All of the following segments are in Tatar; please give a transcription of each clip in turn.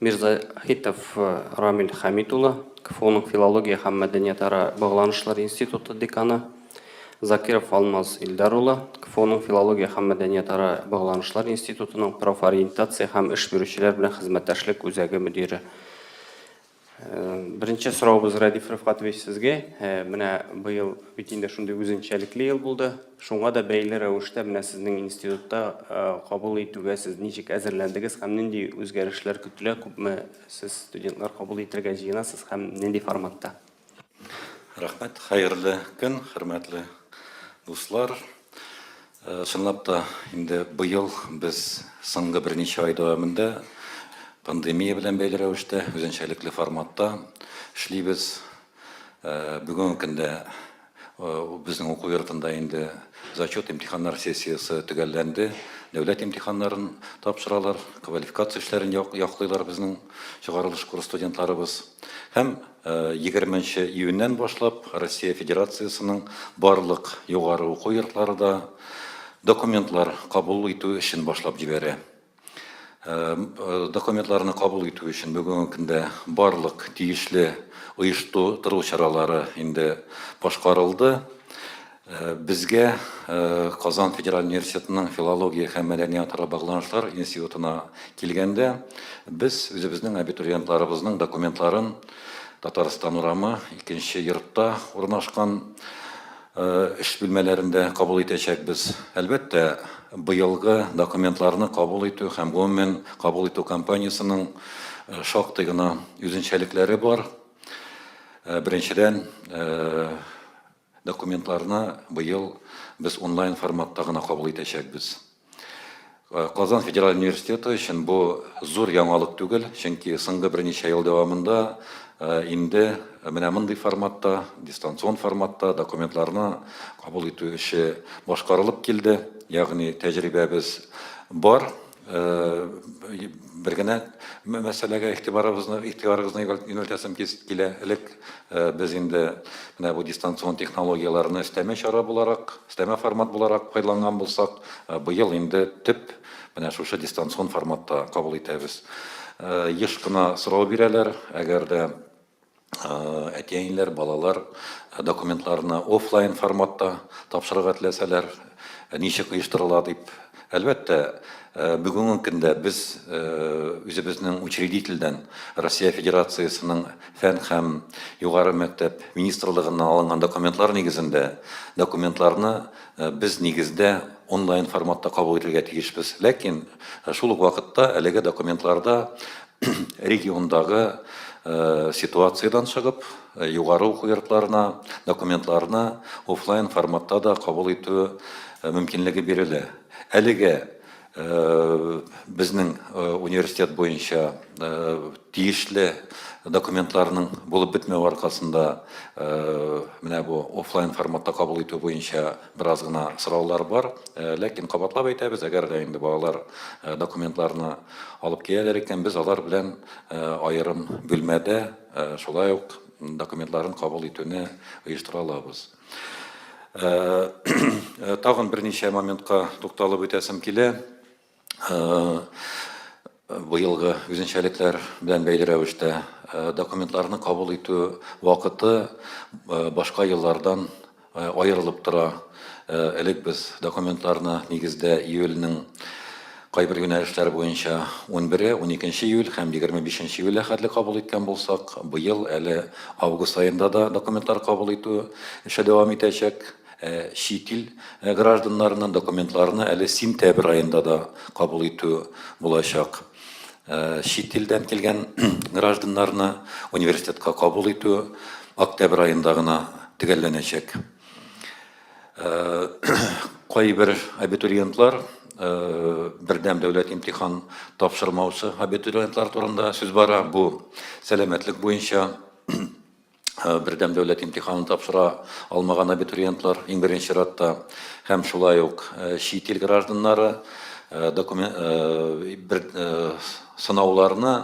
Мирзаһитов Рамил Хәмит улы, КФУның филология һәм мәдәниятара багланышлар институты деканы, Закиров Алмаз Илдар улы, КФУның филология һәм мәдәниятара багланышлар институтының профориентация һәм эш бирүчеләр белән хезмәттәшлек үзәге мөдире, Беренче сорауыбыз Радиф Рифкатович сезгә. Менә быел бит инде шундый үзенчәлекле ел булды. Шуңа да бәйле рәвештә менә сезнең институтта кабул итүгә сез ничек әзерләндегез һәм нинди үзгәрешләр көтелә? Күпме сез студентлар кабул итәргә җыенасыз һәм нинди форматта? Рәхмәт. Хәерле көн, хөрмәтле дуслар. Чынлап та, инде быел без соңгы берничә ай дәвамында пандемия белән бәйле рәвештә, үзенчәлекле форматта эшлибез. Бүгенге көндә безнең уку йортында инде зачет имтиханнар сессиясе төгәлләнде. Дәүләт имтиханнарын тапшыралар, квалификация эшләрен яклыйлар безнең чыгарылыш курс студентларыбыз. Һәм Егерме нче июньнән башлап Россия Федерациясенең барлык югары уку йортлары да документлар кабул итү эшен башлап җибәрә. Документларны кабул итү өчен бүгенге көндә барлык тиешле оешту-тыру чаралары инде башкарылды. Безгә Казан федераль университетының филология һәм мәдәниятара багланышлар институтына килгәндә, без үзебезнең абитуриентларыбызның документларын Татарстан урамы, икенче йортта урнашкан эш бүлмәләрендә кабул итәчәкбез. Әлбәттә, быелгы документларны кабул итү һәм гомумән кабул итү кампаниясенең шактый гына үзенчәлекләре бар. Беренчедән, Документларны быел без онлайн форматта гына кабул итәчәкбез. Казан федераль университеты өчен бу зур яңалык түгел, чөнки соңгы берничә ел дәвамында инде менә мондый форматта, дистанцион форматта документларны кабул итү эше башкарылып килде, ягъни тәҗрибәбез бар. Бер генә мәсьәләгә игътибарыбызны, игътибарыгызны юнәлтәсем килә. Элек без инде менә бу дистанцион технологияләрне өстәмә чара буларак, өстәмә формат буларак файдаланган булсак, быел инде төп менә шушы дистанцион форматта кабул итәбез. Еш кына сорау бирәләр, әгәр дә әти-әниләр, балалар документларны офлайн форматта тапшырырга теләсәләр, ничек оештырыла дип. Әлбәттә, бүгенге көндә без үзебезнең учредительдән Россия Федерациясенең фән һәм югары мәктәп министрлыгыннан алынган документлар нигезендә документларны без нигездә онлайн форматта кабул итәргә тиешбез. Ләкин шул ук вакытта әлеге документларда региондагы ситуациядән чыгып, югары уку йортларына документларны офлайн форматта да кабул итү мөмкинлеге бирелә. Әлегә безнең университет буенча тиешле документларның булып бетмәве аркасында менә бу офлайн форматта кабул итү буенча Бераз гына сораулар бар, ләкин кабатлап әйтәбез, әгәр дә инде балалар документларны алып киләләр икән, без алар белән аерым бүлмәдә шулай ук документларын кабул итүне оештыра алабыз. Тагын берничә моментка тукталып үтәсем килә. быелгы үзенчәлекләр белән бәйле рәвештә документларны кабул итү вакыты башка еллардан аерылып тора. Элек без документларны нигездә июльнең кайбер юнәлешләр буенча 11, 12 июль һәм 25 июльгә хәтле кабул иткән булсак, быел әле август аенда да документлар кабул итү эше дәвам итәчәк. чит ил гражданнарының документларны әле сентябрь аенда да кабул итү булачак. Чит илдән килгән гражданнарны университетка кабул итү октябрь аенда гына төгәлләнәчәк. Кайбер абитуриентлар, бердәм дәүләт имтихан тапшырмаучы абитуриентлар турында сүз бара. Бу сәламәтлек буенча Э, бердәм дәүләт имтиханын тапшыра алмаган абитуриентлар иң беренче чиратта һәм шулай ук э, чит ил гражданнары э, документ бер сынауларны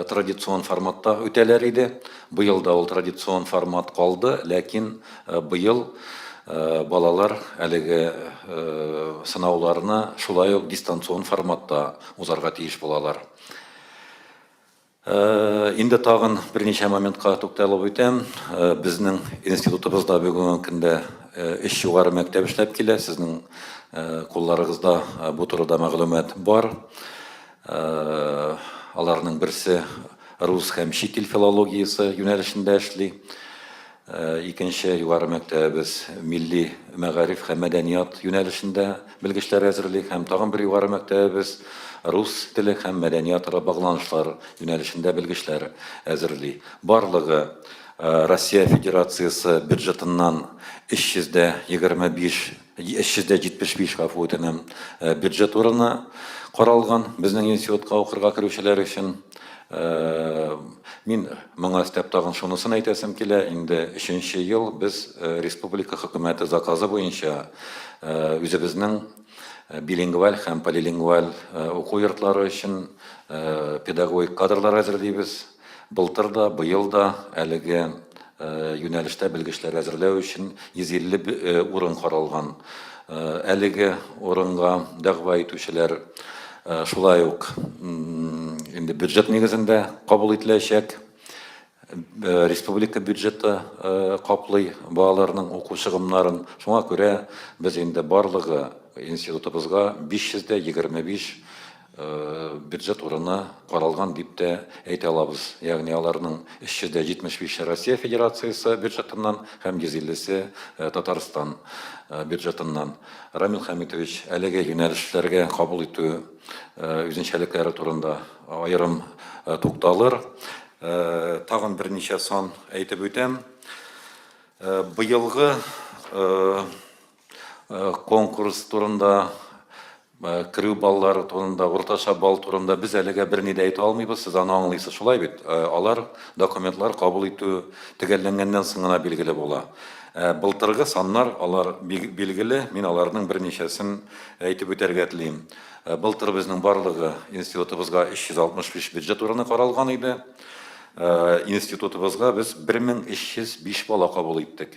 традицион форматта үтәләр иде. Быел да ул традицион формат калды, ләкин быел балалар әлеге сынауларны шулай ук дистанцион форматта узарга тиеш булалар. Инде тагын берничә моментка тукталып үтәм. Безнең институтыбызда бүгенге көндә өч югары мәктәп эшләп килә. Сезнең кулларыгызда бу турыда мәгълүмат бар. Аларның берсе рус һәм чит ил филологиясе юнәлешендә эшли. Икенче югары мәктәбебез милли мәгариф һәм мәдәният юнәлешендә белгечләр әзерли һәм тагын бер югары мәктәбебез рус теле һәм мәдәният ара багланышлар юнәлешендә белгечләр әзерли. Барлыгы Россия Федерациясе бюджетыннан 325 375 гафу үтенәм, бюджет урыны каралган безнең институтка укырга керүчеләр өчен. Мин моңа өстәп тагын шунысын әйтәсем килә, инде өченче ел без республика хөкүмәте заказы буенча үзебезнең билингваль һәм полилингваль уку йортлары өчен педагогик кадрлар әзерлибез. Былтыр да, быел да әлеге юнәлештә белгечләр әзерләү өчен 150 урын каралган. Әлеге урынга дәгъва итүчеләр шулай ук инде бюджет нигезендә кабул ителәчәк. Республика бюджеты каплый балаларның уку чыгымнарын. Шуңа күрә без инде барлыгы институтыбызга 525 бюджет урыны каралган дип тә әйтә алабыз. Ягъни аларның 375-е Россия Федерациясе бюджетыннан һәм 150-се Татарстан бюджетыннан. Рамил Хәмитович, әлеге юнәлешләргә кабул итү үзенчәлекләре турында аерым тукталыр. Тагын берничә сан әйтеп үтәм. Быелгы конкурс турында, керү баллары турында, уртача балл турында без әлегә берни дә әйтә алмыйбыз, сез аны аңлыйсыз, шулай бит? Алар, документлар кабул итү төгәлләнгәннән соң гына билгеле була. Былтыргы саннар, алар билгеле, мин аларның берничәсен әйтеп үтәргә телим. Былтыр безнең барлыгы институтыбызга 365 бюджет урыны каралган иде. Институтыбызга без 1305 бала кабул иттек.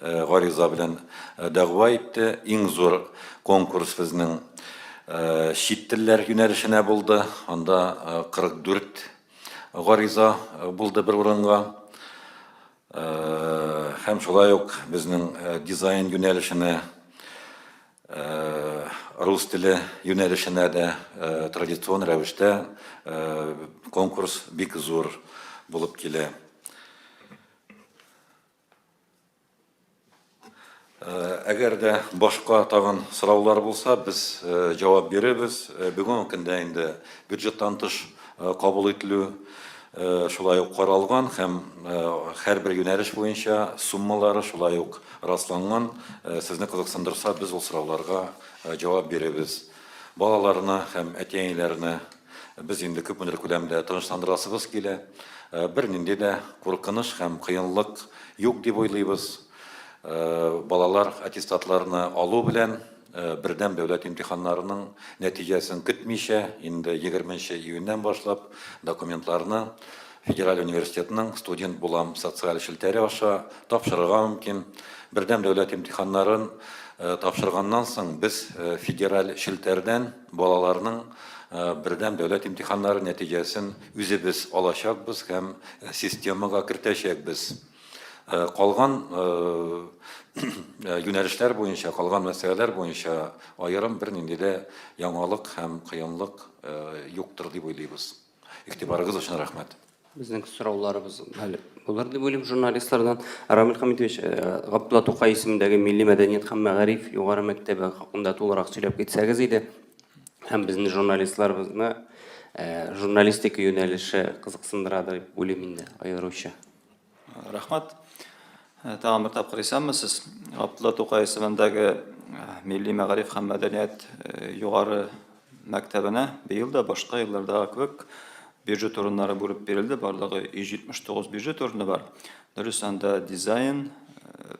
Гариза белән дәгъва итте. Иң зур конкурс безнең чит телләр юнәлешенә булды. Анда 44 гариза булды бер урынга. Һәм шулай ук безнең дизайн юнәлешенә, рус теле юнәлешенә дә традицион рәвештә конкурс бик зур булып килә. Әгәр дә башка тагын сораулар булса, без җавап бирербез. Бүгенге көндә инде бюджеттан тыш кабул ителү шулай ук каралган һәм һәрбер юнәлеш буенча суммалары шулай ук расланган. Сезне кызыксындырса, без ул сорауларга җавап бирербез. Балаларны һәм әти-әниләрне без инде күпмедер күләмдә тынычландырасыбыз килә. Бернинди дә куркыныч һәм кыенлык юк дип уйлыйбыз. Балалар аттестатларны алу белән бердәм дәүләт имтиханнарының нәтиҗәсен көтмичә, инде 20 нче июньнән башлап документларны Федераль университетның Студент булам социаль челтәре аша тапшырырга мөмкин. Бердәм дәүләт имтиханнарын тапшырганнан соң без федераль челтәрдән балаларның бердәм дәүләт имтиханнары нәтиҗәсен үзебез алачакбыз һәм системага кертәчәкбез. Калган юнәлешләр буенча, калган мәсьәләләр буенча аерым бернинди дә яңалык һәм кыенлык юктыр дип уйлыйбыз. Игътибарыгыз өчен рәхмәт. Безнең сорауларыбыз әле булыр дип уйлыйм журналистлардан. Рамил Хамитович, Габдулла Тукай исемендәге милли мәдәният һәм мәгариф югары мәктәбе хакында тулырак сөйләп китсәгез иде. Һәм безнең журналистларыбызны журналистика юнәлеше кызыксындырадыр дип уйлыйм инде аеруча. Рәхмәт. Тагын бер тапкыр исәнмесез. Габдулла Тукай исемендәге милли мәгариф һәм мәдәният югары мәктәбенә быел да башка еллардагы кебек бюджет урыннары бүреп бирелде. Барлыгы 179 бюджет урыны бар. Дөрес, анда дизайн,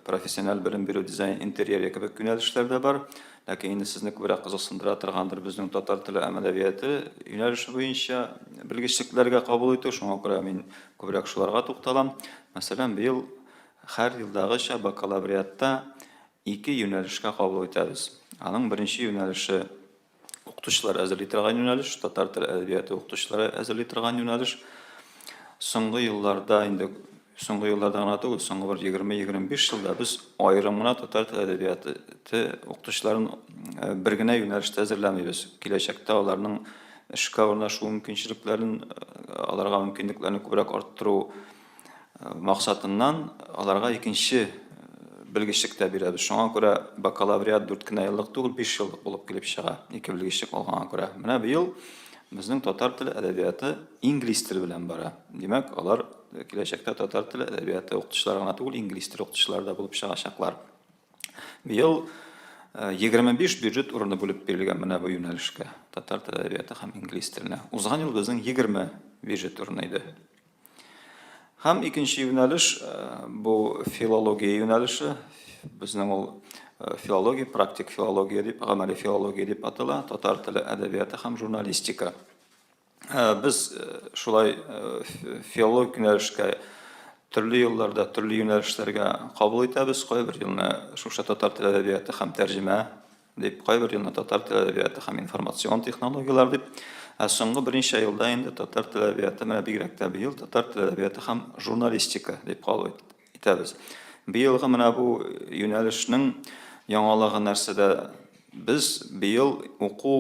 профессиональ белем бирү, дизайн интерьеры кебек юнәлешләр дә бар. Ләкин инде сезне күбрәк кызыксындыра торгандыр безнең татар теле һәм әдәбияты юнәлеше буенча белгечлекләргә кабул итү. Шуңа күрә мин Күбрәк шуларга тукталам. Мәсәлән, быел һәр елдагыча бакалавриатта ике юнәлешкә кабул итәбез. Аның беренче юнәлеше укытучылар әзерли торган юнәлеш, татар теле әдәбияты укытучылары әзерли торган юнәлеш. Соңгы елларда инде соңгы елларда гына түгел, соңгы бер 20-25 елда без аерым гына татар теле әдәбияты укытучыларын бер генә юнәлештә әзерләмибез. Киләчәктә аларның эшкә урнашу мөмкинчелекләрен, аларга мөмкинлекләрне күбрәк арттыру максатыннан, аларга икенче белгечлек тә бирәбез. Шуңа күрә бакалавриат дүрт кенә еллык түгел, биш еллык булып килеп чыга, ике белгечлек алганга күрә. Менә быел безнең татар теле, әдәбияты инглиз теле белән бара. Димәк, алар киләчәктә татар теле, әдәбияты укытучылары гына түгел, инглиз теле укытучылары да булып чыгачаклар. Быел 25 бюджет урыны бүлеп бирелгән менә бу юнәлешкә, татар теле әдәбияты һәм инглиз теленә. Узган ел безнең 20 бюджет урыны иде. Һәм икенче юнәлеш бу филология юнәлеше. Безнең ул филология, практик филология дип, гамәли филология дип атала, татар теле әдәбияты һәм журналистика. Без шулай филолог юнәлешкә төрле елларда төрле юнәлешләргә кабул итәбез. Кайбер елны шушы татар теле әдәбияты һәм тәрҗемә дип, кайбер елны татар теле әдәбияты һәм информацион технологияләр дип. Ә соңгы берничә елда инде татар теле әдәбияты, менә бигрәк тә быел татар теле әдәбияты һәм журналистика дип кабул ителде. Итәбез. Быелгы менә бу юнәлешнең яңалыгы нәрсәдә? Без быел уку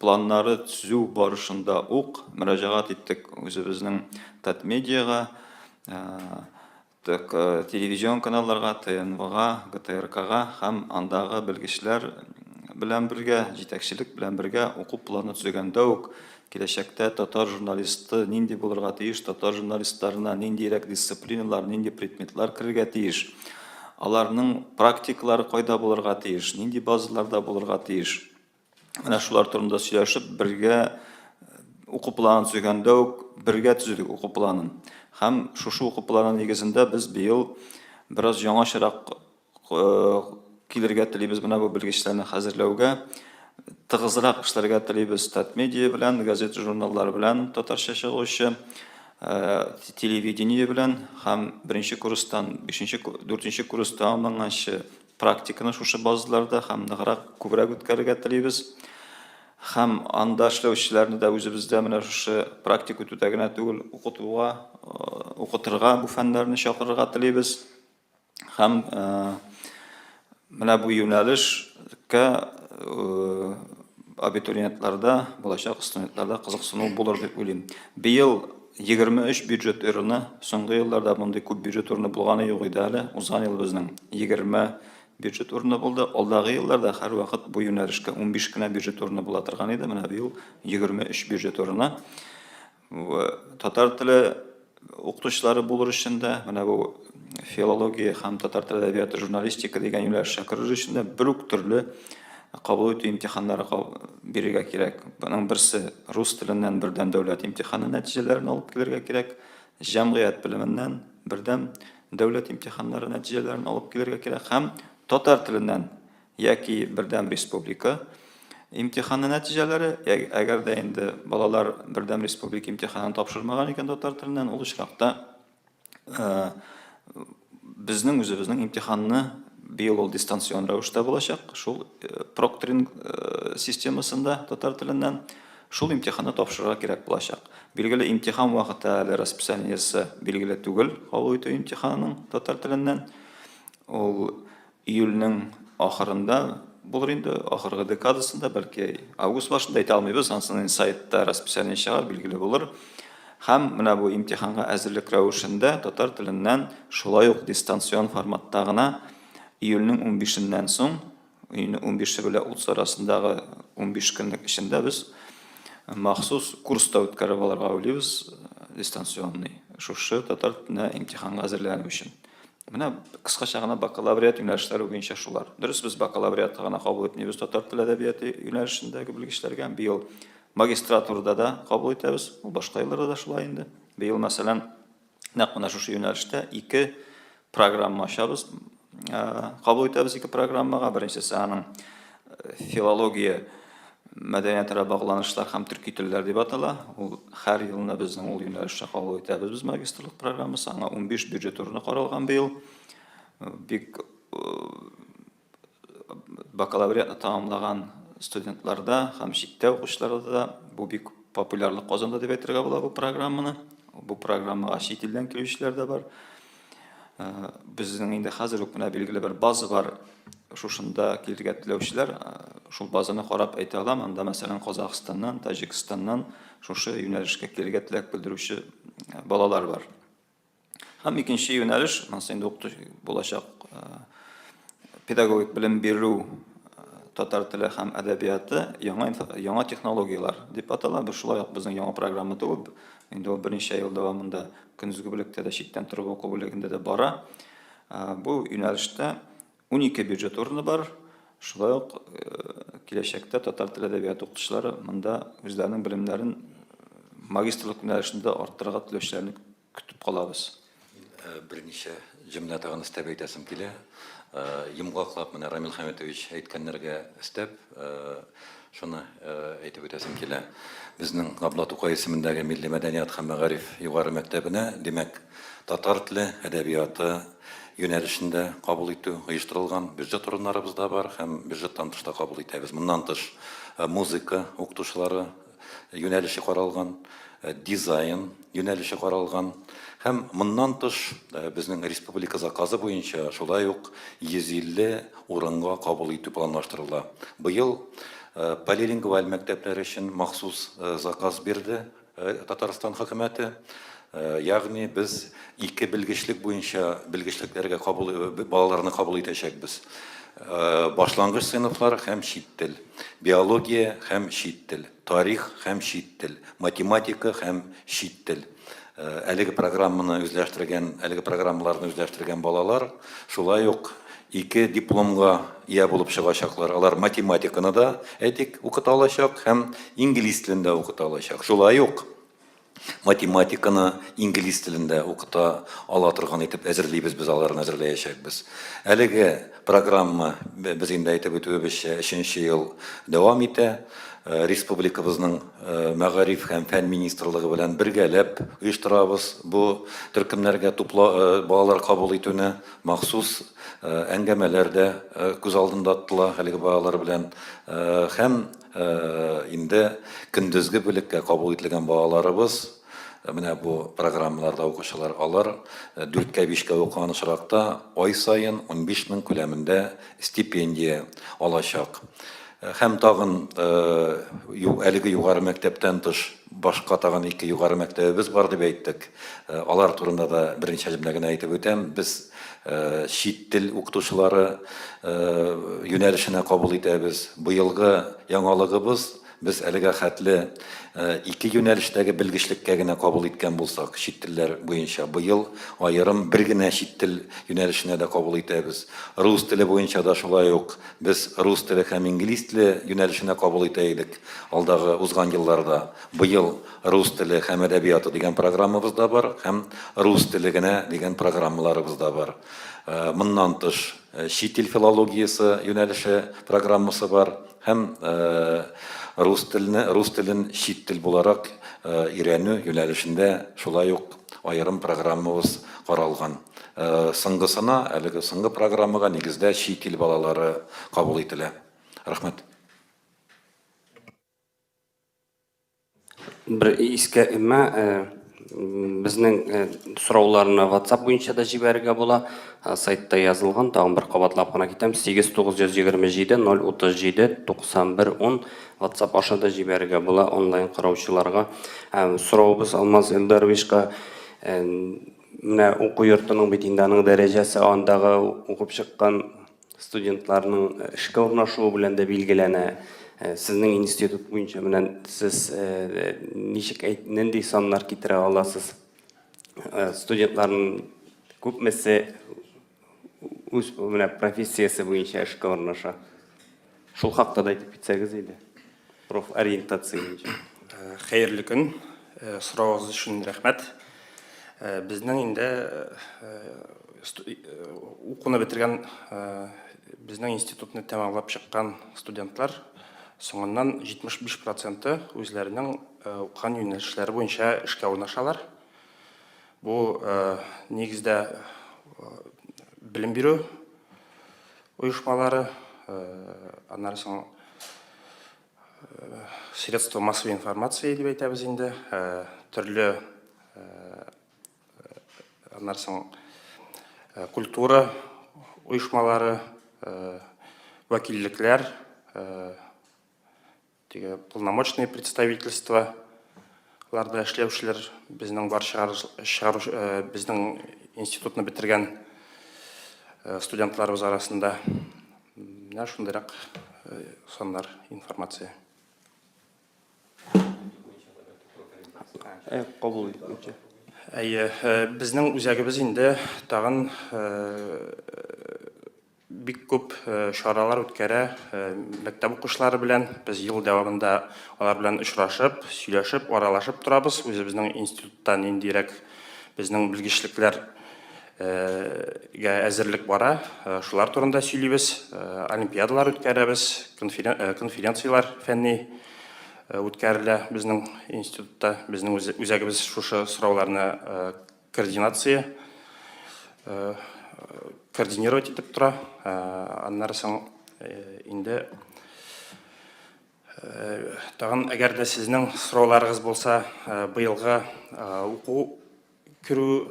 планнары төзү барышында ук мөрәҗәгать иттек үзебезнең Татмедиага, так, телевизион каналларга, ТНВга, ГТРКга һәм андагы белгечләр белән бергә, җитәкчелек белән бергә уку планы төзегәндә үк Киләчәктә татар журналисты нинди булырга тиеш, татар журналистларына ниндирәк дисциплиналар, нинди предметлар керергә тиеш, аларның практикалары кайда булырга тиеш, нинди базаларда булырга тиеш. Менә шулар турында сөйләшеп, бергә уку планын төзегәндә үк бергә төзедек уку планын. Һәм шушы уку планы нигезендә без быел бераз яңачарак килергә телибез менә бу белгечләрне хәзерләүгә. Тыгызрак эшләргә телибез Татмедиа белән, газета-журналлар белән татарча чыгучы, телевидение белән һәм беренче курстан бишенче, дүртенче курс тәмамланганчы практиканы шушы базаларда һәм ныграк, күбрәк үткәрергә телибез. Һәм анда эшләүчеләрне дә үзебездә менә шушы практик үтүдә генә түгел, укытуга, укытырга бу фәннәрне чакырырга телибез. Һәм менә бу юнәлешкә абитуриентларда, булачак студентларда кызыксыну булыр дип уйлыйм. Быел 23 бюджет урыны, соңгы елларда мондый күп бюджет урыны булганы юк иде әле. Узган ел безнең 20 бюджет урыны булды. Алдагы елларда һәрвакыт бу юнәлешкә 15 кенә бюджет урыны була торган иде. Менә быел 23 бюджет урыны. Татар теле укытучылары булыр өчен дә, менә бу филология һәм татар теле әдәбияты журналистика дигән юнәлешчә керер өчен дә бер үк төрле кабул итү имтиханнары бирергә кирәк. Моның берсе рус теленнән бердәм дәүләт имтиханы нәтиҗәләрен алып килергә кирәк, җәмгыять белеменнән бердәм дәүләт имтиханнары нәтиҗәләрен алып килергә кирәк һәм татар теленнән яки бердәм республика имтиханы нәтиҗәләре, әгәр дә инде балалар бердәм республика имтиханын тапшырмаган икән татар теленнән, ул очракта э, безнең үзебезнең имтиханны быел ул дистанцион рәвештә булачак, шул э, прокторинг э, системасында татар теленнән шул имтиханны тапшырырга кирәк булачак. Билгеле имтихан вакыты әле расписаниесе билгеле түгел, кабул итү имтиханының татар теленнән. Ул Июльнең ахырында булыр инде, ахыргы декадасында, бәлки август башында, әйтә алмыйбыз, ансын инде сайтта расписание чыгар, билгеле булыр. Һәм менә бу имтиханга әзерлек рәвешендә татар теленнән шулай ук дистанцион форматта гына июльнең унбишеннән соң, июльнең унбише белән утыз арасындагы унбиш көнлек эчендә без махсус курс та үткәреп алырга уйлыйбыз, дистанционный, шушы татар теленә имтиханга әзерләнү өчен. Менә кыскача гына бакалавриат юнәлешләре буенча шулар. Дөрес, без бакалавриатка гына кабул итмибез татар теле әдәбияты юнәлешендәге белгечләргә. Быел магистратурада да кабул итәбез. Ул башка елларда да шулай инде. Быел, мәсәлән, нәкъ менә шушы юнәлештә ике программа ачабыз. Кабул итәбез ике программага. Беренчесе аның Филология мәдәниятара багланышлар һәм төрки телләр дип атала. Ул һәр елына безнең ул юнәлешчә кабул итәбез без магистрлык программасы. Аңа 15 бюджет урыны каралган быел. Бик бакалавриатны тәмамлаган студентларда һәм читтә укучыларда да бу бик популярлык казанды дип әйтергә була бу программаны. Бу программага чит илдән килүчеләр дә бар. Безнең инде хәзер үк менә билгеле бер база бар. Шушында килергә теләүчеләр шул базаны карап әйтә алам. Анда, мәсәлән, Казахстаннан, Таҗикстаннан шушы юнәлешкә килергә теләк белдерүче балалар бар. Һәм икенче юнәлеш, монысы инде укыту булачак педагогик белем бирү татар теле һәм әдәбияты яңа яңа технологияләр дип атала. Бу шулай ук безнең яңа программа түгел. Инде ул берничә ел дәвамында Көндезге бүлектә дә, читтән торып уку бүлегендә дә бара. Бу юнәлештә унике бюджет урыны бар. Шулай ук киләчәктә татар теле әдәбияты укытучылары монда үзләренең белемнәрен магистрлык юнәлешендә арттырырга теләүчеләрне көтеп калабыз. Берничә Җөмлә тагын өстәп әйтәсем килә. Йомгаклап менә Рамил Хәмитович әйткәннәргә өстәп, шуны әйтеп үтәсем килә. Безнең Габдулла Тукай исемендәге милли мәдәният һәм мәгариф югары мәктәбенә, димәк, татар теле, әдәбияты юнәлешендә кабул итү оештырылган. Бюджет урыннарыбыз да бар һәм бюджеттан тыш та кабул итәбез. Моннан тыш, музыка укытучылары юнәлеше каралган, дизайн юнәлеше каралган һәм моннан тыш безнең республика заказы буенча шулай ук 150 урынга кабул итү планлаштырыла. Быел полилингваль мәктәпләр өчен махсус заказ бирде Татарстан хөкүмәте. Ягъни без ике белгечлек буенча белгечлекләргә кабул балаларны кабул итәчәкбез. Башлангыч сыйныфлар һәм чит тел, биология һәм чит тел, тарих һәм чит тел, математика һәм чит тел. Әлеге программаны үзләштергән, әлеге программаларны үзләштергән балалар шулай ук ике дипломга ия булып чыгачаклар. Алар математиканы да, әйтик, укыта алачак һәм инглиз телен дә укыта алачак. Шулай ук математиканы инглиз телендә укыта ала торган итеп әзерлибез без аларны әзерләячәкбез әлеге программа без инде әйтеп үтүебезчә өченче ел дәвам итә э, республикабызның э, мәгариф һәм фән министрлыгы белән бергәләп оештырабыз бу төркемнәргә тупла э, балалар кабул итүне махсус әңгәмәләр дә күз алдында тотыла әлеге балалар белән һәм Инде көндезге бүлеккә кабул ителгән балаларыбыз менә бу программаларда укучылар. Алар дүрткә, бишкә укыган очракта ай саен 15 мең күләмендә стипендия алачак. Һәм тагын әлеге югары мәктәптән тыш Башка тагын ике югары мәктәбебез бар дип әйттек. Алар турында да берничә җөмлә генә әйтеп үтәм. Без чит тел укытучылары юнәлешенә кабул итәбез. Быелгы яңалыгыбыз, без әлегә хәтле ике юнәлештәге белгечлеккә генә кабул иткән булсак, чит телләр буенча, быел аерым бер генә чит тел юнәлешенә дә кабул итәбез. Рус теле буенча да шулай ук. Без рус теле һәм инглиз теле юнәлешенә кабул итә идек алдагы узган елларда. Быел рус теле һәм әдәбияты дигән программабыз да бар һәм рус теле генә дигән программаларыбыз да бар. Моннан тыш, чит ил филологиясе юнәлеше программасы бар һәм рус телне, рус телен чит тел буларак өйрәнү юнәлешендә шулай ук аерым программабыз каралган. Соңгысына, әлеге соңгы программага нигездә чит ил балалары кабул ителә. Рәхмәт. Бер искә өмә, безнең сорауларны WhatsApp буенча да җибәрергә була. Сайтта язылган, тагын бер кабатлап кына китәм, 8 927 037 91 10 Ватсап аша да җибәрергә була онлайн караучыларга. Соравыбыз Алмаз Элдаровичка, менә уку йортының бит инде аның дәрәҗәсе андагы укып чыккан студентларның эшкә урнашуы белән дә билгеләнә. Сезнең институт буенча менә сез ничек әйт, нинди саннар китерә аласыз? Студентларның күпмесе үз менә профессиясе буенча эшкә урнаша. Шул хакта да әйтеп китсәгез иде. Профориентация буенча. Э, хәерле көн. Э, Сорагыз өчен рәхмәт. Э, безнең инде укуны бетергән безнең институтны тәмамлап чыккан студентлар соңыннан 75% үзләренең укыган юнәлешләре буенча эшкә урнашалар. Бу нигездә белем бирү оешмалары, аннары соң средства массовой информации дип әйтәбез инде, төрле аннары соң культура оешмалары, вәкиллекләр, Теге полномочный представительство ларда эшләүчеләр безнең бар чыгару э, безнең институтны бетергән э, студентларыбыз арасында менә шундыйрак э, саннар информация кабул итүче әйе безнең үзәгебез инде тагын Бик күп чаралар үткәрә мәктәп укучылары белән. Без ел дәвамында алар белән очрашып, сөйләшеп, аралашып торабыз. Үзебезнең институтта ниндирәк безнең белгечлекләр гә әзерлек бара, шулар турында сөйлибез. Олимпиадалар үткәрәбез, конференцияләр фәнни үткәрелә безнең институтта. Безнең үзәгебез шушы сорауларны Координация координировать итеп тора. Аннары соң инде тагын әгәр дә сезнең сорауларыгыз булса, быелгы уку керү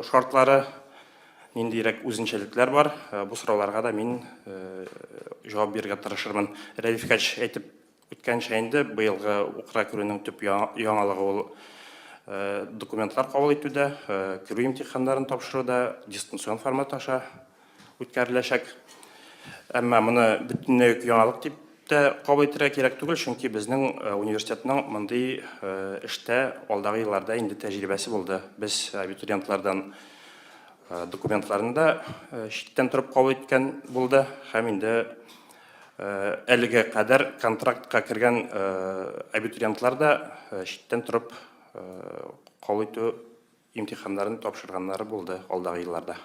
шартлары ниндирәк үзенчәлекләр бар, бу сорауларга да мин җавап бирергә тырышырмын. Рәдиф Хәч әйтеп Үткәнчә инде быелгы укра керүнең төп яңалыгы ул документлар кабул итүдә, керү имтиханнарын тапшыру да дистанцион формат аша үткәреләчәк. Әмма моны бөтенләй үк яңалык дип тә кабул итәргә кирәк түгел, чөнки безнең университетның мондый эштә алдагы елларда инде тәҗрибәсе булды. Без абитуриентлардан документларын да читтән торып кабул иткән булды һәм инде Әлегә кадәр контрактка кергән абитуриентлар да читтән торып кабул итү имтиханнарын тапшырганнары булды алдагы елларда.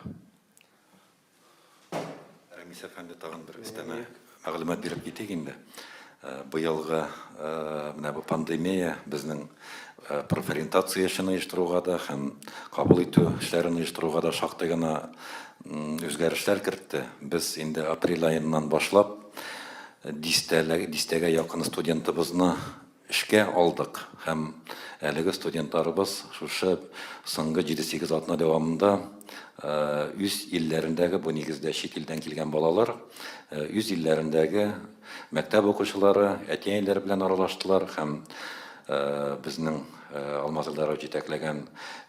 Рәмис әфәнде, тагын бер өстәмә мәгълүмат биреп китик инде. Быелгы менә бу пандемия безнең Профориентация эшен оештыруга да һәм кабул итү эшләрен оештыруга да шактый гына үзгәрешләр кертте. Без инде апрель аеннан башлап дистәгә якын студентыбызны эшкә алдык һәм әлеге студентларыбыз шушы соңгы 7-8 атна дәвамында үз илләрендәге, бу нигездә чит илдән килгән балалар, үз илләрендәге Мәктәп укучылары, әти-әниләр белән аралаштылар һәм безнең Алмаз Элдаров җитәкләгән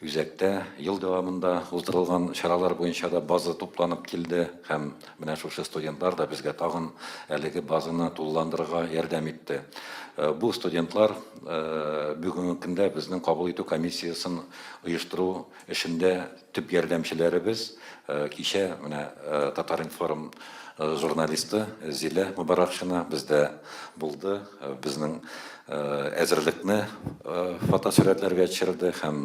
үзәктә ел дәвамында уздырылган чаралар буенча да база тупланып килде һәм менә шушы студентлар да безгә тагын әлеге базаны тулыландырырга ярдәм итте. Бу студентлар бүгенге көндә безнең кабул итү комиссиясен оештыру Эшендә төп ярдәмчеләребез кичә менә Татар-информ журналисты Зилә Мөбаракшина бездә булды, безнең әзерлекне фотосурәтләргә төшерде һәм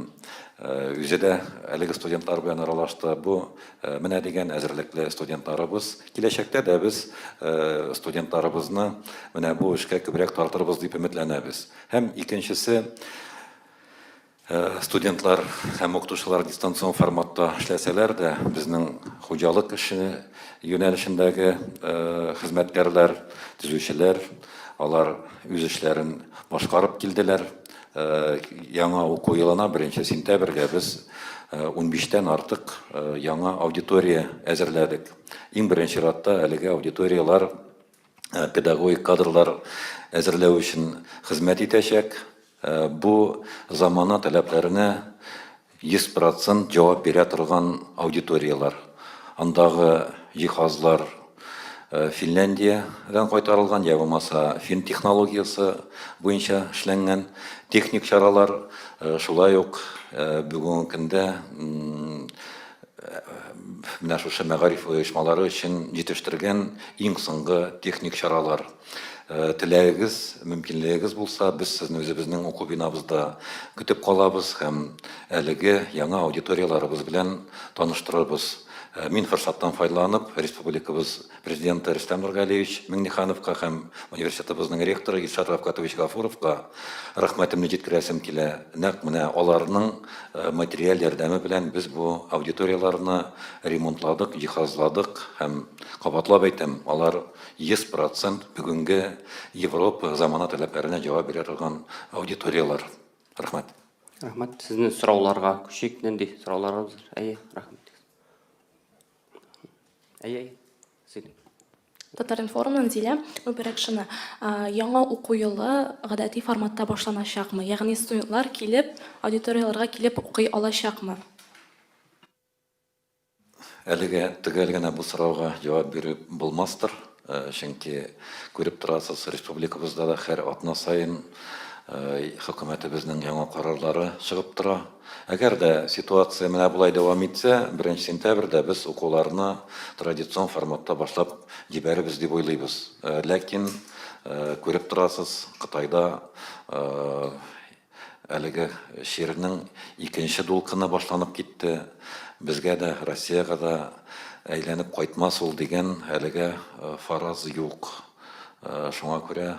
үзе дә әлеге студентлар белән аралашты. Бу менә дигән әзерлекле студентларыбыз. Киләчәктә дә без студентларыбызны менә бу эшкә күбрәк тартырбыз дип өметләнәбез. Һәм икенчесе. Студентлар һәм укытучылар дистанцион форматта эшләсәләр дә, безнең хуҗалык эше юнәлешендәге хезмәткәрләр, төзүчеләр, алар үз эшләрен башкарып килделәр. Яңа уку елына, беренче сентябрьгә без унбиш тән артык яңа аудитория әзерләдек. Иң беренче чиратта әлеге аудиторияләр педагогик кадрлар әзерләү өчен хезмәт итәчәк. Бу замана таләпләренә 100% җавап бирә торган аудиторияләр. Андагы җиһазлар Финляндиядән кайтарылган я булмаса фин технологиясе буенча эшләнгән. Техник чаралар шулай ук бүгенге көндә менә шушы мәгариф оешмалары өчен җитештергән иң соңгы техник чаралар. Э, теләгегез, мөмкинлегегез булса, без сезне үзебезнең уку бинабызда көтеп калабыз һәм әлеге яңа аудиторияларыбыз белән таныштырырбыз. Э, мин форсаттан файдаланып, республикабыз Президенты Рөстәм Нургалиевич Миңнехановка һәм университетыбызның ректоры Илшат Рафкатович Гафуровка рәхмәтемне җиткерәсем килә. Нәкъ менә аларның материаль ярдәме белән без бу аудиторияләрне ремонтладык, җиһазладык һәм, кабатлап әйтәм, алар 100 процент бүгенге Европа замана таләпләренә җавап бирә торган аудиторияләр. Рәхмәт. Рәхмәт. Сезнең сорауларга күчик. Нинди сорауларыгыз? Әйе, рәхмәт. Әйе, сөйлим. Татаринформнан Зилә Үберәкшина. Яңа уку елы гадәти форматта башланачакмы? Ягъни студентлар килеп, аудиторияләргә килеп укый алачакмы? Әлегә төгәл генә бу сорауга җавап биреп булмастыр. Чөнки күреп торасыз, республикабызда да һәр атна саен хөкүмәтебезнең яңа карарлары чыгып тора. Әгәр дә ситуация менә болай дәвам итсә, беренче сентябрьдә без укуларны традицион форматта башлап җибәрербез дип уйлыйбыз. Ләкин, күреп торасыз, Кытайда Әлеге чирнең икенче дулкыны башланып китте. Безгә дә, Россиягә дә әйләнеп кайтмас ул дигән әлегә фараз юк. Шуңа күрә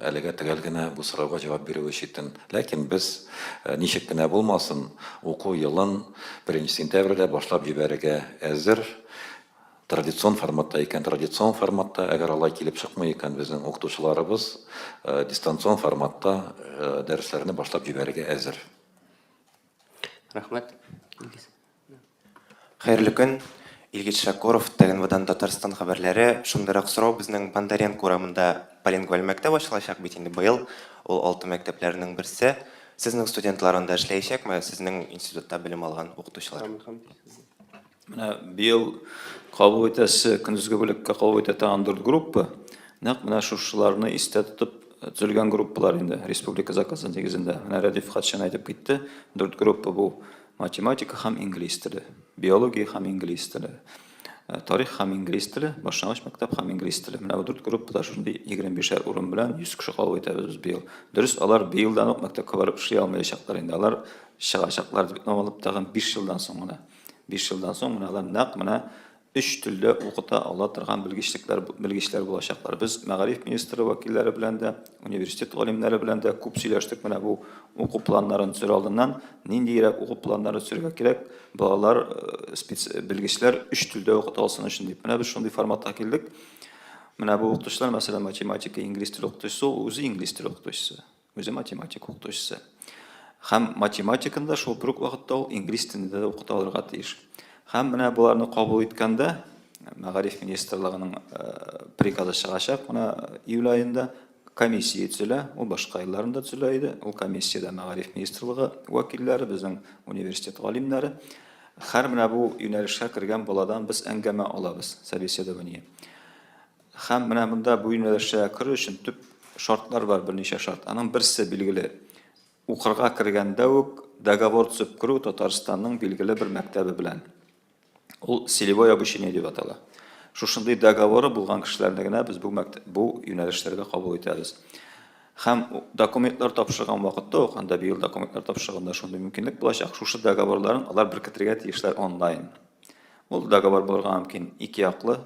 әлегә төгәл генә бу сорауга җавап бирүе читен. Ләкин без, ничек кенә булмасын, уку елын 1 сентябрьдә башлап җибәрергә әзер. Традицион форматта икән, традицион форматта, әгәр алай килеп чыкмый икән, безнең укытучыларыбыз дистанцион форматта дәресләрне башлап җибәрергә әзер. Рәхмәт. Хәерле көн. Илгиз Шакуров, Тәгенвадан Татарстан хәбәрләре. Шундыйрак сорау, безнең Бондаренко урамында полингваль мәктәп ачылачак бит инде быел. Ул алты мәктәпләрнең берсе. Сезнең студентлар анда эшләячәкме? Сезнең институтта белем алган укытучылар? Менә быел кабул итәсе, көндезге бүлеккә кабул итә торган дүрт группа, нәкъ менә шушыларны истә тотып э, төзелгән группалар инде, республика заказы нигезендә. Менә Рәдиф Хатшин әйтеп китте, дүрт группа бу математика һәм инглиз теле, биология һәм инглиз теле, э, тарих һәм инглиз теле, башлангыч мәктәп һәм инглиз теле. Менә бу дүрт группада шундый 25-шәр урын белән 100 кеше кабул итәбез без быел. Дөрес, алар быелдан ук мәктәпкә барып эшли алмаячаклар инде. Алар чыгачаклар дип намалып тагын 5 елдан соң гына. Биш елдан соң менә алар нәкъ менә өч телдә укыта ала торган белгечләр белгечләр булачаклар. Без мәгариф министры вәкилләре белән дә, университет галимнәре белән дә күп сөйләштек менә бу уку планнарын төзер алдыннан, ниндиерәк уку планнары төзергә кирәк, балалар э, белгечләр өч телдә укыта алсын өчен дип. Менә без шундый форматка килдек. Менә бу укытучылар, мәсәлән, математика, инглиз теле укытучысы, ул үзе инглиз теле укытучысы. Үзе математика укытучысы. Хәм математиканы да шул брук вакытта ул инглиз телендә дә укыта алырга тиеш. Хәм менә буларны кабул иткәндә, мәгариф министрлыгының э, приказы чыгачак, менә июль аенда комиссия төзелә, ул башка елларында төзелә иде. Ул комиссиядә мәгариф министрлыгы вәкилләре, безнең университет галимнәре. Хәр менә бу юнәлешкә кергән баладан без әңгәмә алабыз, собеседование. Һәм менә монда бу юнәлешчә керү өчен төп шартлар бар, берничә шарт. Аның берсе билгеле, укырга кергәндә үк договор төзеп керү Татарстанның билгеле бер мәктәбе белән. Ул целевое обучение дип атала. Шушындый договоры булган кешеләрне генә без бу мәктәп, бу юнәлешләргә кабул итәбез. Һәм документлар тапшырган вакытта ук, анда быел документлар тапшырганда шундый мөмкинлек булачак, шушы договорларын алар беркетергә тиешләр онлайн. Ул договор булырга мөмкин ике яклы,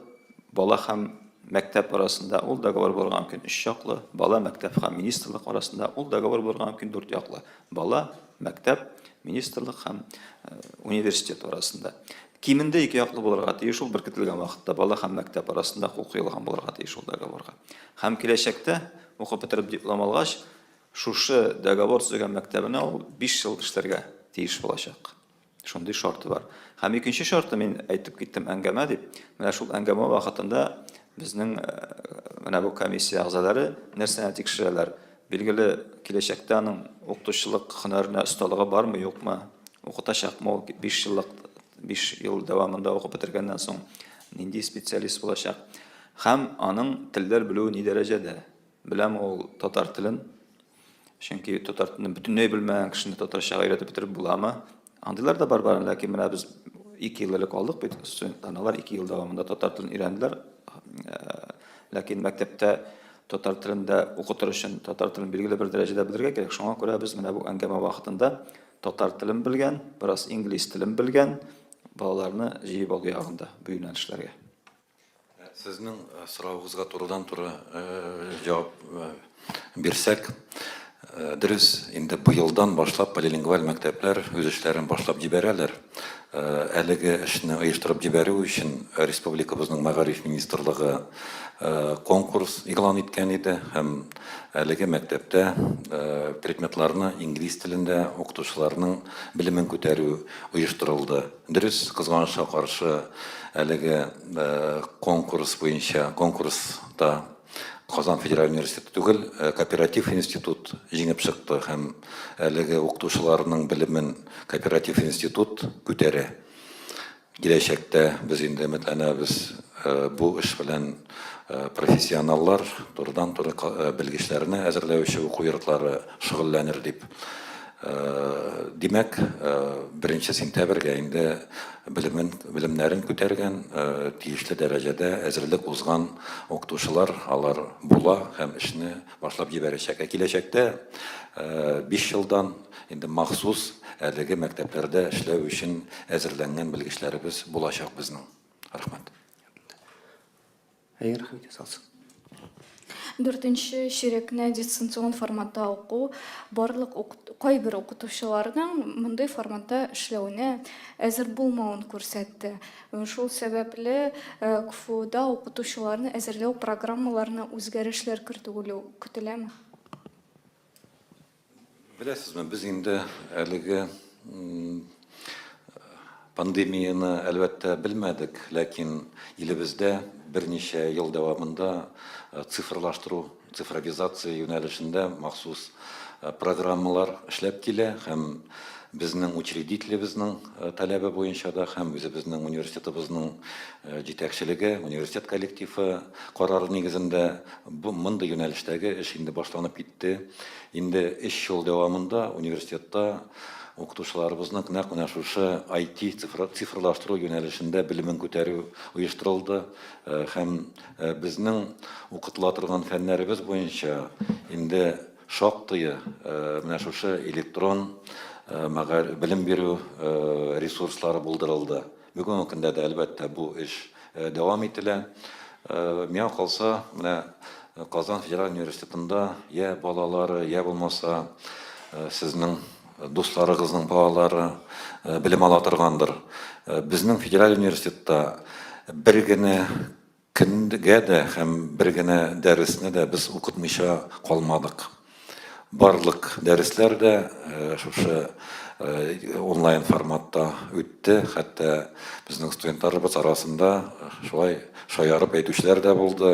бала һәм мәктәп арасында, ул договор булырга мөмкин өч яклы, бала, мәктәп һәм министрлык арасында, ул договор булырга мөмкин дүрт яклы, бала, мәктәп, министрлык һәм университет арасында. Кимендә ике яклы булырга тиеш ул беркетелгән вакытта, бала һәм мәктәп арасында кул куелган булырга тиеш ул договорга. Һәм киләчәктә, укып бетереп диплом алгач, шушы договор төзегән мәктәбенә ул биш ел эшләргә тиеш булачак. Шундый шарты бар. Һәм икенче шарты, мин әйтеп киттем әңгәмә дип. Менә шул әңгәмә вакытында безнең э, менә бу комиссия әгъзалары нәрсәне тикшерәләр? Билгеле, киләчәктә аның укытучылык һөнәренә осталыгы бармы, юкмы? Укытачакмы ул 5 еллык 5 ел дәвамында укып бетергәннән соң нинди специалист булачак? Һәм аның телләр белүе ни дәрәҗәдә? Беләм ул татар телен. Чөнки татар телен бөтенләй белмәгән кешене татарчага өйрәтеп бетереп буламы? Андыйлар да бар бар, ләкин менә без ике ел элек алдык бит студентлар. Алар ике ел дәвамында татар телен өйрәнделәр. Ләкин мәктәптә татар телендә укытыр өчен татар телен билгеле бер дәрәҗәдә белергә кирәк. Шуңа күрә без менә бу әңгәмә вакытында татар телен белгән, бераз инглиз телен белгән балаларны җыеп алу ягында бу юнәлешләргә. Сезнең соравыгызга турыдан-туры җавап бирсәк, дөрес, инде быелдан башлап полилингваль мәктәпләр үз эшләрен башлап җибәрәләр. Әлеге эшне оештырып җибәрү өчен республикабызның Мәгариф министрлыгы конкурс игълан иткән иде һәм әлеге мәктәптә предметларны инглиз телендә укытучыларның белемен күтәрү оештырылды. Дөрес, кызганычка каршы, әлеге конкурс буенча, конкурста Казан федераль университеты түгел, кооператив институт җиңеп чыкты һәм әлеге укытучыларның белемен кооператив институт күтәрә. Киләчәктә без инде өметләнәбез, бу эш белән профессионаллар, турыдан-туры белгечләрне әзерләүче уку йортлары, шөгыльләнер дип. Димәк, беренче сентябрьгә инде белемен, белемнәрен күтәргән, тиешле дәрәҗәдә әзерлек узган укытучылар алар була һәм эшне башлап җибәрәчәк. Ә киләчәктә, биш елдан инде махсус әлеге мәктәпләрдә эшләү өчен әзерләнгән белгечләребез булачак безнең. Рәхмәт. Әйе, рәхмәт ясалсын. Дүртенче чирекне дистанцион форматта уку барлык кайбер укытучыларның мондый форматта эшләвенә әзер булмавын күрсәтте. Шул сәбәпле КФУда укытучыларны әзерләү программаларына үзгәрешләр кертү көтеләме? Беләсезме, без инде әлеге пандемияне, әлбәттә, белмәдек, ләкин илебездә берничә ел дәвамында цифрлаштыру, цифровизация юнәлешендә махсус программалар эшләп килә һәм безнең учредителебезнең таләбе буенча да һәм үзебезнең университетыбызның Җитәкчелеге, университет коллективы карары нигезендә бу мондый юнәлештәге эш инде башланып китте. Инде өч ел дәвамында университетта укытучыларыбызның нәкъ менә шушы IT, цифрлаштыру юнәлешендә белемен күтәрү оештырылды һәм безнең укытыла торган фәннәребез буенча инде шактые менә шушы электрон белем бирү ресурслары булдырылды. Бүгенге көндә дә, әлбәттә, бу эш дәвам ителә. Миңа калса, менә Казан федераль университетында йә балалары, йә булмаса, сезнең дусларыгызның балалары белем ала торгандыр. Безнең федераль университетта бер генә Кемгә дә һәм бер генә дәресне дә без укытмыйча калмадык. Барлык дәресләр дә шушы онлайн форматта үтте. Хәтта безнең студентларыбыз арасында шулай шаярып әйтүчеләр дә булды,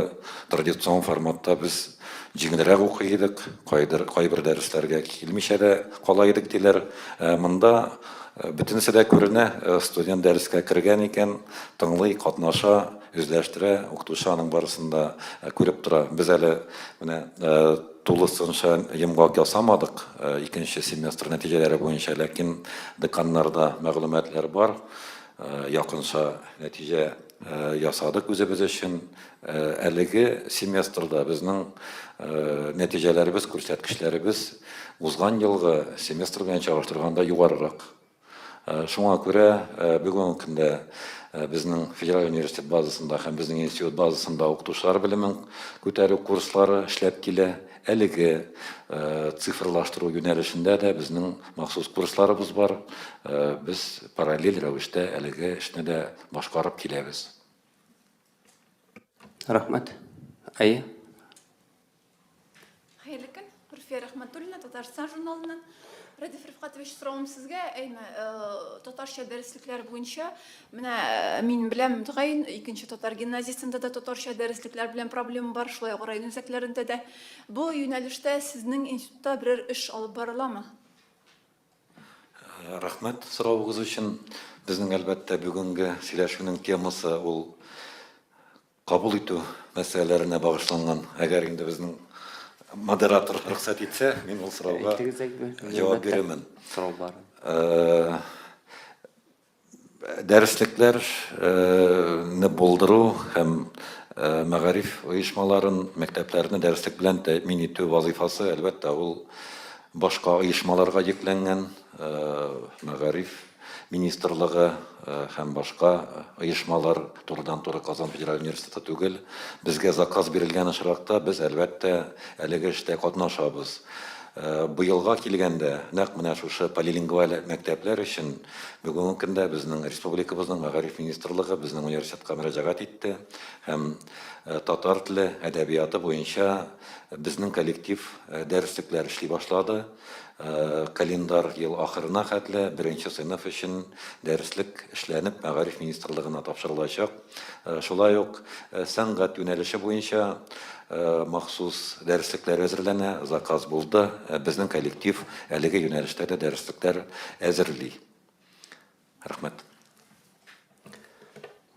традицион форматта без җиңелрәк укый идек, кайбер дәресләргә килмичә дә кала идек, диләр. Монда бөтенесе дә күренә, студент дәрескә кергән икән, тыңлый, катнаша. Үзләштерә, укытучы аның барысын да күреп тора. Без әле менә тулысынча йомгак ясамадык икенче семестр нәтиҗәләре буенча, ләкин деканнарда мәгълүматлар бар. Якынча нәтиҗә ясадык үзебез өчен. Әлеге семестрда безнең нәтиҗәләребез, күрсәткечләребез узган елгы семестр белән чагыштырганда югарырак. Шуңа күрә бүгенге көндә безнең Федераль университет базасында һәм безнең институт базасында укытучылар белемен күтәрү курслары эшләп килә. Әлеге цифрлаштыру юнәлешендә дә безнең махсус курсларыбыз бар. Без параллель рәвештә әлеге эшне дә башкарып киләбез. Рәхмәт. Әйе. Хәерле көн. Руфия Рәхмәтуллина, Татарстан журналыннан. Радиф Рифкатович, соравым сезгә, әйме, э, татарча дәреслекләр буенча, менә э, мин беләм, мөгаен, икенче татар гимназиясендә дә татарча дәреслекләр белән проблема бар, шулай ук район үзәкләрендә дә. Бу юнәлештә сезнең институтта берәр эш алып барыламы? Э, рәхмәт соравыгыз өчен. Безнең әлбәттә бүгенге сөйләшүнең темасы ул кабул итү мәсьәләләренә багышланган. Әгәр инде безнең модератор рөхсәт итсә, мин ул сорауга җавап бирермен. Дәреслекләрне булдыру һәм мәгариф оешмаларын, мәктәпләрне дәреслек белән тәэмин итү вазыйфасы, әлбәттә, ул башка оешмаларга йөкләнгән. Мәгариф министрлыгы һәм башка оешмалар турыдан туры казан федераль университеты түгел безгә заказ бирелгән очракта без әлбәттә әлеге эштә катнашабыз быелга килгәндә нәкъ менә шушы полилингваль мәктәпләр өчен бүгенге көндә безнең республикабызның мәгариф министрлыгы безнең университетка мөрәҗәгать итте һәм татар теле әдәбияты буенча безнең коллектив дәреслекләр эшли башлады Календар ел ахырына хәтле беренче сыйныф өчен дәреслек эшләнеп Мәгариф министрлыгына тапшырылачак. Шулай ук сәнгать юнәлеше буенча махсус дәреслекләр әзерләнә, заказ булды. Безнең коллектив әлеге юнәлештә дә дәреслекләр әзерли. Рәхмәт.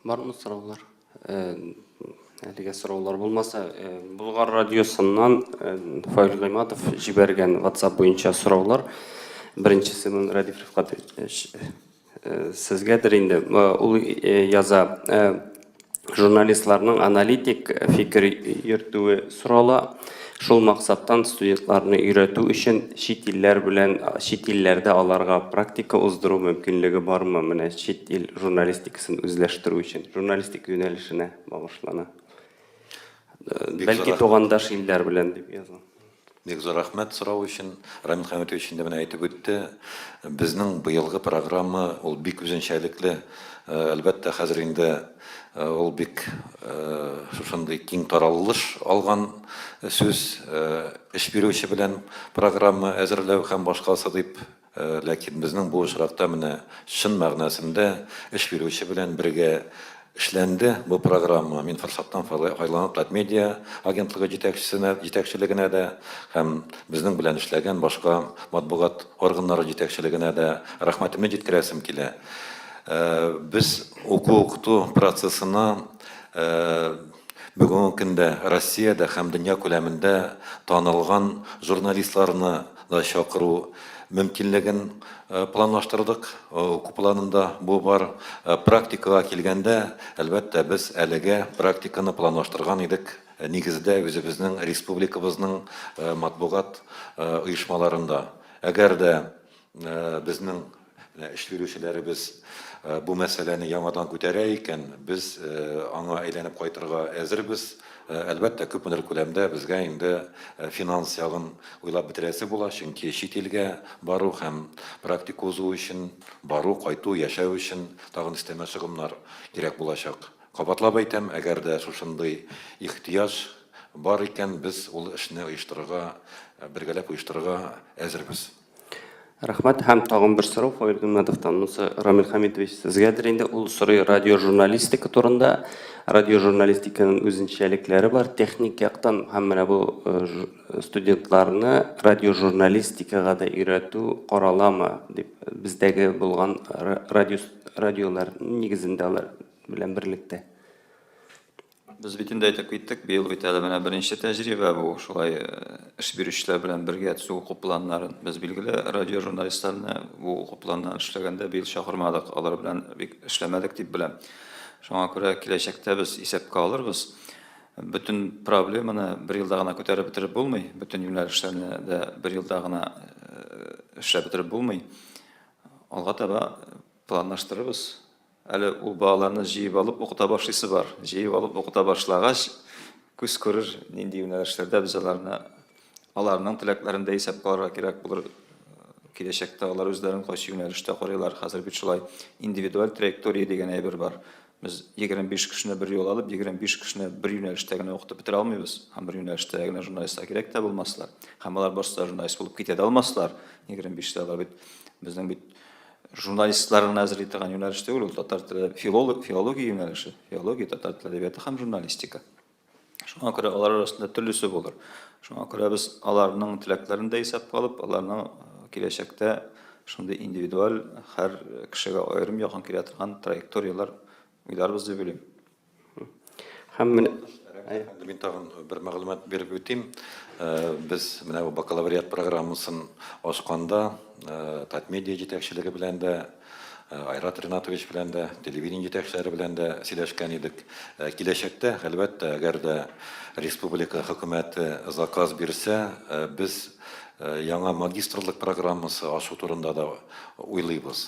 Бармы сораулар? Әлегә сораулар булмаса, Болгар радиосыннан Фаил Гыйматов җибәргән WhatsApp буенча сораулар. Беренчесе мин Радиф Рифкатович сезгәдер инде. Ул яза, журналистларның аналитик фикер йөртүе сорала. Шул максаттан студентларны өйрәтү өчен чит илләр белән чит илләрдә аларга практика уздыру мөмкинлеге бармы? Менә чит ил журналистикасын үзләштерү өчен журналистик юнәлешенә багышлана. Бәлки тугандаш илләр белән дип язам. Бик зур рәхмәт сорау өчен. Рамил Хәмитович инде менә әйтеп үтте. Безнең быелгы программа ул бик үзенчәлекле. Әлбәттә, хәзер инде ул бик шушындый киң таралыш алган сүз. Эш бирүче белән программа әзерләү һәм башкасы дип Ләкин безнең бу очракта менә чын мәгънәсендә эш бирүче белән бергә эшләнде бу программа. Мин форсаттан файланып Татмедиа агентлыгы җитәкчесенә җитәкчелегенә дә һәм безнең белән эшләгән башка матбугат органнары җитәкчелегенә дә рәхмәтемне җиткерәсем килә. Без уку-укыту процессына Бүгенге көндә Россиядә һәм дөнья күләмендә танылган журналистларны да чакыру мөмкинлеген планлаштырдык. Уку планында бу бар. Практикага килгәндә, әлбәттә, без әлегә практиканы планлаштырган идек, нигездә, үзебезнең республикабызның матбугат оешмаларында. Әгәр дә Безнең эш бирүчеләребез бу мәсьәләне яңадан күтәрә икән, без аңа әйләнеп кайтырга әзербез. Әлбәттә, күпмедер күләмдә безгә инде финанс ягын уйлап бетерәсе була, чөнки чит илгә бару һәм практика узу өчен бару, кайту, яшәү өчен тагын өстәмә чыгымнар кирәк булачак. Кабатлап әйтәм, әгәр дә шушындый ихтыяҗ бар икән, без ул эшне оештырырга, бергәләп оештырырга әзербез. Рәхмәт һәм тагын бер сорау Фаил Гыйммәтовтан. Монысы Рамил Хәмитович сезгәдер инде. Ул сорый радиожурналистика турында. Радиожурналистиканың үзенчәлекләре бар техник яктан һәм менә бу студентларны радиожурналистикага да өйрәтү караламы дип бездәге булган радио радиолар нигезендә алар белән берлектә. Без бит инде әйтеп киттек, быел бит әле менә беренче тәҗрибә бу, шулай эш бирүчеләр белән бергә төзү уку планнарын. Без, билгеле, радиожурналистларны бу уку планнарын эшләгәндә быел чакырмадык, алар белән бик эшләмәдек дип беләм. Шуңа күрә киләчәктә без исәпкә алырбыз. Бөтен проблеманы бер елда гына күтәреп бетереп булмый, бөтен юнәлешләрне дә бер елда гына эшләп бетереп булмый. Алга таба планлаштырырбыз. Әле ул балаларны җыеп алып укыта башлыйсы бар. Җыеп алып укыта башлагач, күз күрер, нинди юнәлешләрдә без аларны, аларның теләкләрен дә исәпкә алырга кирәк булыр. Киләчәктә алар үзләрен кайсы юнәлештә карыйлар. Хәзер бит шулай индивидуаль траектория дигән әйбер бар. Без 25 кешене бер юлы алып, 25 кешене бер юнәлештә генә укытып бетерә алмыйбыз. Һәм бер юнәлештә генә журналистлар кирәк тә булмаслар. Һәм алар барсы да журналист булып китә дә алмаслар. 25 тә алар бит, безнең бит Журналистлар гына әзерли торган юнәлеш түгел, ул татар теле филолог, филология юнәлеше, филология, татар теле әдәбияты һәм журналистика. Шуңа күрә алар арасында төрлесе булыр. Шуңа күрә без аларның теләкләрен дә исәпкә алып, аларның э, киләчәктә шундый индивидуаль һәр кешегә аерым якын килә торган траекторияләр уйларбыз дип уйлыйм. Һәм менә Мин тагын бер мәгълүмат биреп үтим. Без менә бу бакалавриат программасын ачканда, Татмедиа җитәкчелеге белән дә, Айрат Ринатович белән дә, телевидение җитәкчеләре белән дә сөйләшкән идек. Киләчәктә, әлбәттә, әгәр дә республика хөкүмәте заказ бирсә, без яңа магистрлык программасы ачу турында да уйлыйбыз.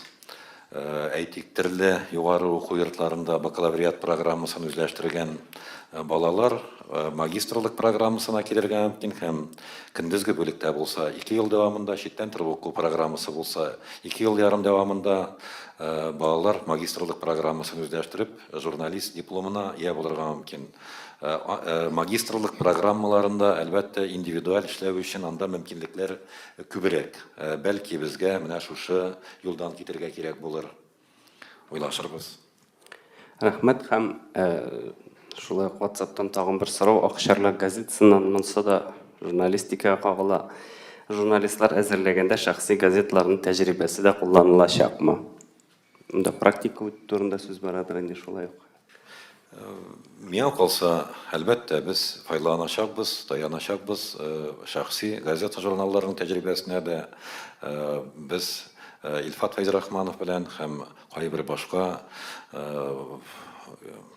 Әйтик, төрле югары уку йортларында бакалавриат программасын үзләштергән балалар магистрлык программасына килергә мөмкин һәм көндезге бүлектә булса, ике ел дәвамында, читтән торып уку программасы булса, ике ел ярым дәвамында балалар магистрлык программасын үзләштереп, журналист дипломына ия булырга мөмкин. Магистрлык программаларында, әлбәттә, индивидуаль эшләү өчен анда мөмкинлекләр күбрәк. Бәлки, безгә менә шушы юлдан китергә кирәк булыр. Уйлашырбыз. Рәхмәт һәм шулай ук WhatsApp-тан тагын бер сорау Акчарлак газетасыннан монсы да журналистикага кагыла. Журналистлар әзерләгәндә шәхси газетларның тәҗрибәсе дә кулланылачакмы? Монда практика үтү турында сүз барадыр инде шулай ук. Миңа калса, әлбәттә, без файдаланачакбыз, таяначакбыз. Шәхси газета-журналларның тәҗрибәсенә дә без Илфат Фәйзрахманов белән һәм кайбер башка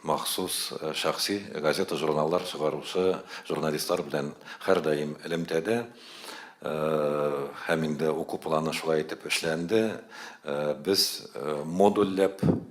махсус шәхси газета-журналлар чыгаручы журналистлар белән һәрдаим элемтәдә. Һәм инде уку планы шулай итеп эшләнде. Без модульләп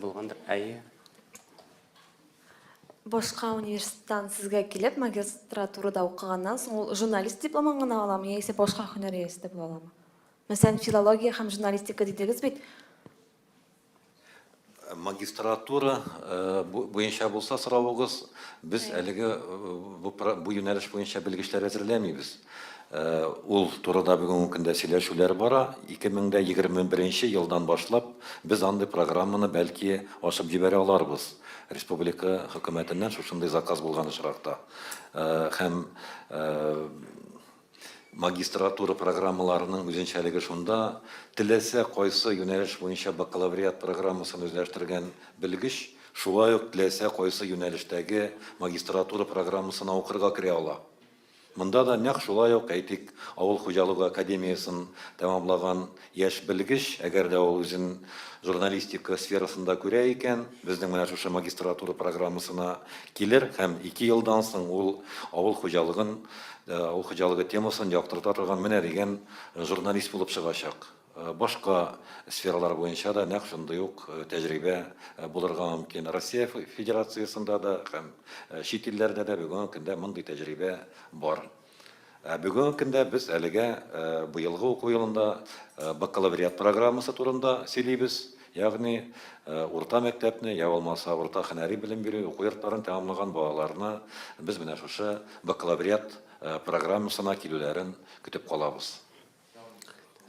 Булгандыр, әйе. Башка университеттан сезгә килеп, магистратурада укыганнан соң ул журналист дипломын гына аламы, яисә башка һөнәр иясе дә була аламы? Мәсәлән, филология һәм журналистика дидегез бит. Магистратура э, буенча булса соравыгыз, без әлеге э, бу юнәлеш буенча белгечләр әзерләмибез. Ул турыда бүгенге көндә сөйләшүләр бара. 2021 елдан башлап без андый программаны бәлки ачып җибәрә аларбыз, республика хөкүмәтеннән шушындый заказ булган очракта. Һәм магистратура программаларының үзенчәлеге шунда, теләсә кайсы юнәлеш буенча бакалавриат программасын үзләштергән белгеч шулай ук теләсә кайсы юнәлештәге магистратура программасына укырга керә ала. Монда да нәкъ шулай ук, әйтик, авыл хуҗалыгы академиясен тәмамлаган яшь белгеч, әгәр дә ул үзен журналистика сферасында күрә икән, безнең менә шушы магистратура программасына килер һәм ике елдан соң ул авыл хуҗалыгын, авыл хуҗалыгы темасын яктырта торган менә дигән журналист булып чыгачак. Башка сфералар буенча да нәкъ шундый ук тәҗрибә булырга мөмкин. Россия Федерациясендә дә һәм чит илләрдә дә бүгенге көндә мондый тәҗрибә бар. Ә бүгенге көндә без әлегә быелгы уку елында бакалавриат программасы турында сөйлибез, ягъни урта мәктәпне я булмаса урта һөнәри белем бирү уку йортларын тәмамлаган балаларны без менә шушы бакалавриат программасына килүләрен көтеп калабыз.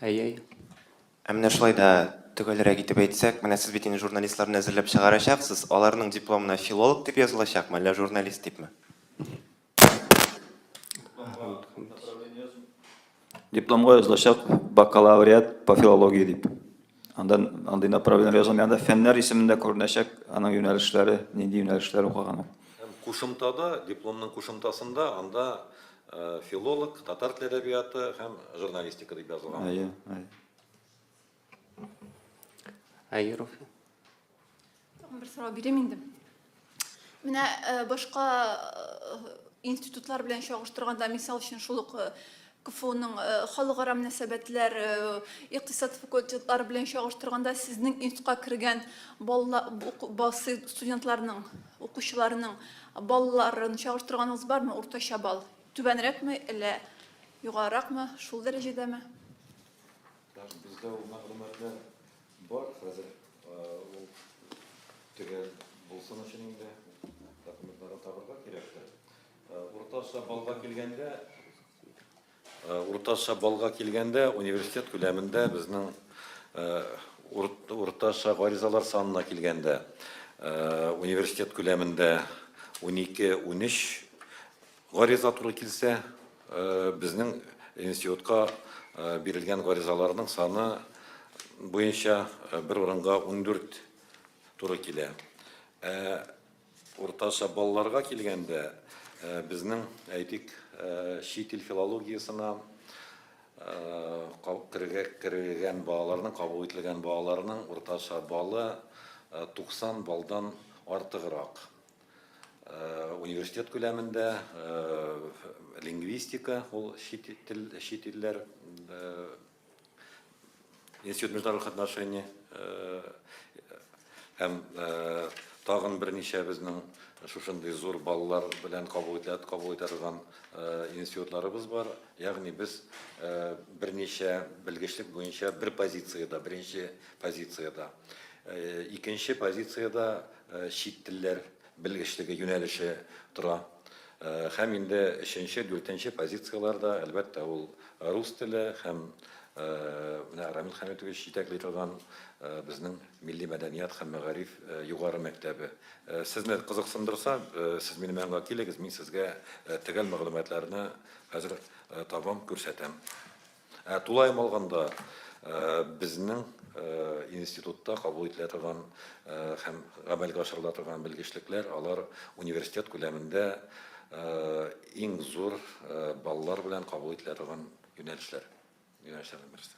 Әй-әй. Ә менә шулай да төгәлрәк итеп әйтсәк, менә сез бит инде журналистларны әзерләп чыгарачаксыз, аларның дипломына филолог дип язылачакмы, әллә журналист дипме? Дипломга язылачак, бакалавриат по филологии дип. Анда андый направление язылмый. Анда фәннәр исемендә күренәчәк, аның юнәлешләре, нинди юнәлешләр укыган ул. Кушымтада, дипломның кушымтасында анда филолог, татар теле әдәбияты һәм журналистика дип язылган. Әйе, әйе. Әйе, Руфи. Тагын бер сорау бирәм инде. Менә э, башка э, институтлар белән чагыштырганда, мисал өчен шул ук э, КФУның халыкара мөнәсәбәтләр, икътисад факультетлары белән чагыштырганда сезнең институтка кергән балалар, студентларның, укучыларның балаларын чагыштырганыгыз бармы? Уртача балл түбәнрәкме, әллә югарыракмы, шул дәрәҗәдәме? Бездә ул мәгълүматлар Бар, хәзер ул төгәл булсын өчен инде документларны табырга кирәктер. Уртача балга килгәндә, уртача балга килгәндә университет күләмендә безнең уртача гаризалар санына килгәндә университет күләмендә 12-13 Гариза туры килсә, безнең институтка бирелгән гаризаларның саны буенча бер урынга ундүрт туры килә. Ә уртача балларга килгәндә, безнең, әйтик, чит ил филологиясына кергән балаларның, кабул ителгән балаларның уртача баллы 90 баллдан артыграк. Университет күләмендә лингвистика, ул чит тел, чит илләр институт международных отношений һәм тагын берничә безнең шушындый зур баллар белән кабул итә, кабул итә торган институтларыбыз бар. Ягъни без берничә белгечлек буенча бер позициядә, беренче позициядә. Икенче позициядә чит телләр белгечлеге юнәлеше тора. Һәм инде өченче, дүртенче позицияләрдә, әлбәттә, ул рус теле һәм менә Рамил Хәмитович җитәкли торган безнең милли мәдәният һәм мәгариф югары мәктәбе. Сезне кызыксындырса, сез минем янга килегез, мин сезгә төгәл мәгълүматларны хәзер табам, күрсәтәм. Ә тулаем алганда, безнең институтта кабул ителә торган һәм гамәлгә ашырыла торган белгечлекләр, алар университет күләмендә иң зур баллар белән кабул ителә торган юнәлешләр, юнәлешләрнең берсе.